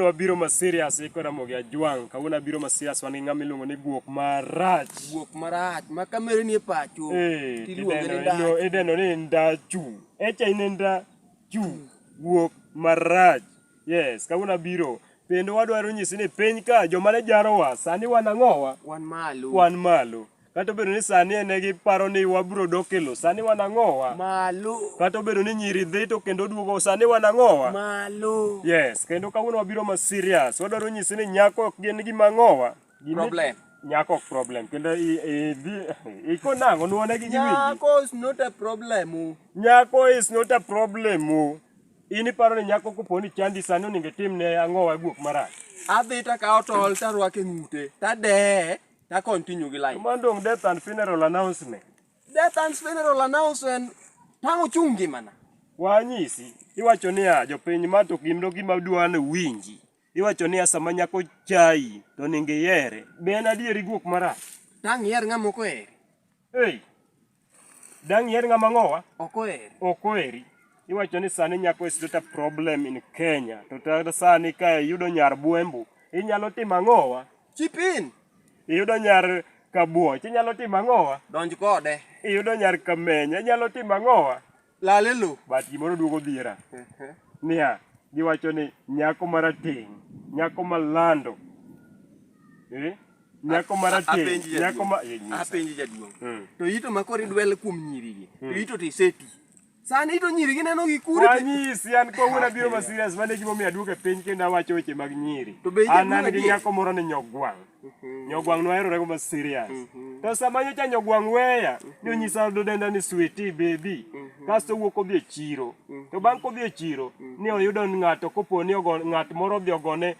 wabiro ma serious iko Ramogi Ajwang'. Kawuono abiro ma serious wan gi ng'ama iluongo ni guok marach. Guok marach ma kamere ni e pacho. Eh, tiluonge ni ndachu. Ideno ni ndachu. Echa in ndachu. Guok marach. Yes, kawuono abiro. Kendo wadwaro nyisi ni piny ka joma ne jarowa sani wan ang'owa? Wan malo. Wan malo. Kata obedo ni sani ene giparo ni wabiro dok e lo, sani wan ang'owa? Malo. Kata obedo ni nyiri dhi to kendo duogo, sani wan ang'owa? Malo. Yes, kendo kawuono wabiro ma serious. Wadwaro nyisi ni nyako ok gin gima ang'owa. Problem. Nyako ok problem. Kendo idhi, iko nang'o, nuone gi giwinji. Nyako is not a problem. Oh. Nyako is not a problem. Oh. In iparo ni nyako kopo ni chandi sani onego itim ne ang'owa guok marach. Adhi to akawo tol to arwako e ng'ute, to adeye. ta continue gi life. Mano dong death and funeral announcement. Death and funeral announcement tang' ochung' ngimana. Wanyisi, iwacho niya jopiny ma to gimdo gima dwa ni winji. Iwacho niya sama nyako chai to ningi yere. Be en adieri guok marach? Tang' iyer ng'ama ok oheri. Hey. Dang' iher ng'ama ng'owa? Ok oheri. Ok oheri. Iwacho ni sani nyako is not a problem in Kenya. To ta sani ka iyudo nyar Buembu, inyalo timo ang'owa? Chip in. Iyudo nyar Kabuoch, inyalo timo ang'owa? Donj kode. Iyudo nyar Kamenya, inyalo timo ang'owa? Lal e lo. But gimoro duogo dhiera. Niya, giwacho ni nyako marateng', nyako malando. Eh? Nyako marateng', Apenji jaduong'. nyako ma eh, nyisa. Apenji jaduong'. Mm. To ito ma koro idwel kuom nyirigi. To ito to iseti. Sani ito nyirigi neno gi kure. to- Wanyisi an kawuono abiro ma serious mane gimomiyo aduogo e piny kendo awacho weche mag nyiri. To be An jaduong' an gi adier? nyako moro ni nyogwang'. Mhm. Nyogwang' noherore go ma serious. Mhm. To sama nyocha nyogwang' weya, mhm. nonyisa dodenda ni sweetie baby. Kasto wuok odhi e chiro. To bang' kodhi e chiro, ni oyudo ng'ato kopo ni ogo ng'at moro odhi ogone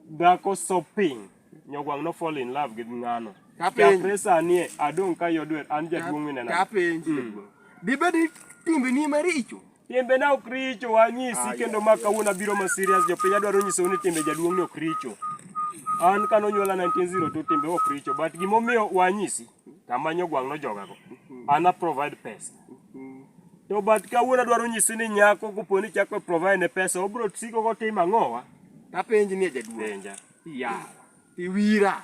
dhako shopping. Nyogwang' no fall in love gi ng'ano. Chakre sani e, adong' ka yodwer an jaduong' minena. Kapenji. Mm. Dibedi timbeni maricho? Timbena ok richo, anyisi kendo ma kawuono abiro ma serious jopiny adwaro nyisou ni timbe jaduong' ni ok richo. An kane onyuola 1902 timbe ok richo but gimomiyo wanyisi tamanyo gwang' nojogago. An a provide pesa. To but kawuono adwaro nyisi ni nyako kopo ni chako provide ne pesa obro siko kotimo ang'owa? Tapenji ni jaduong'. Penja. Yawa. Iwira.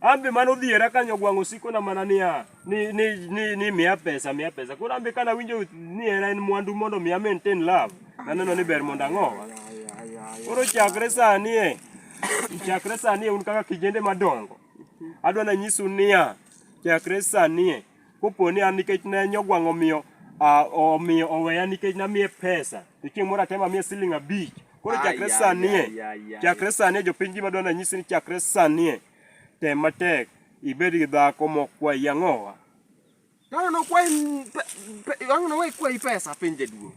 Ambe mano dhiera kanyo gwang' osiko na mana niya ni ni ni, ni miya pesa miya pesa. Koro ambe kana winjo ni hera en mwandu mondo miya maintain love. Naneno ni ber mondo ang'owa. Koro chakre sani e chakre sani e un kaka kijende madongo. Adwa na nyisu niya chakre sani e kopo ni an nikech ne nyogwang' omiyo ah, omiyo oweya nikech namiye pesa. To chieng' moro atema miye siling' abich. Koro chakre sanie, chakre sanie jopiny gima dwani anyisi ni chakre sanie tem matek ibed gi dhako mokwayi ang'owa. Ang'ono kwayi ang'ono wayi kwayi pesa piny jaduong'.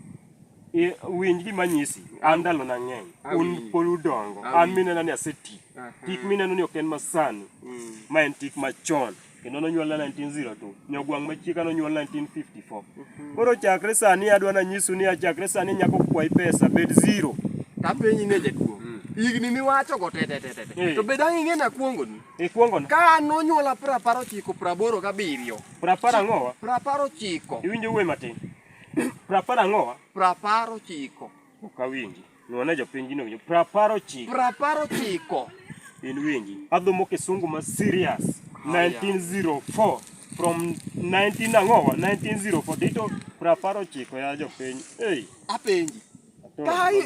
Winj gima nyisi, an ndalo na ng'eny, un pod udongo, an minena ni aseti. Tik mineno ni ok en masani, mm. ma en tik machon. kendo nonyuolna 1902 nyogwang' machieka nonyuol 1954 mhm. koro chakre sani adwa nanyisu ni achakre sani nyako kwayi pesa bed zero tapenyi ne jaduong' mm. higni miwacho go tetetetete eh. to bed ang' ing'e na kuongoni ikuongona ka nonyuola prapar ochiko praboro gabiriyo prapar ang'owa prapar ochiko iwinjo wuoyi matin prapar ang'owa prapar ochiko Ok awinji. Nuone jopiny gino winjo. Prapar ochiko. Prapar ochiko. In winji. Adhomo kisungu ma serious. 1904 from 19 angowa 1904 dito prapar ochiko ya jopiny. Hey. Apenji. Ka in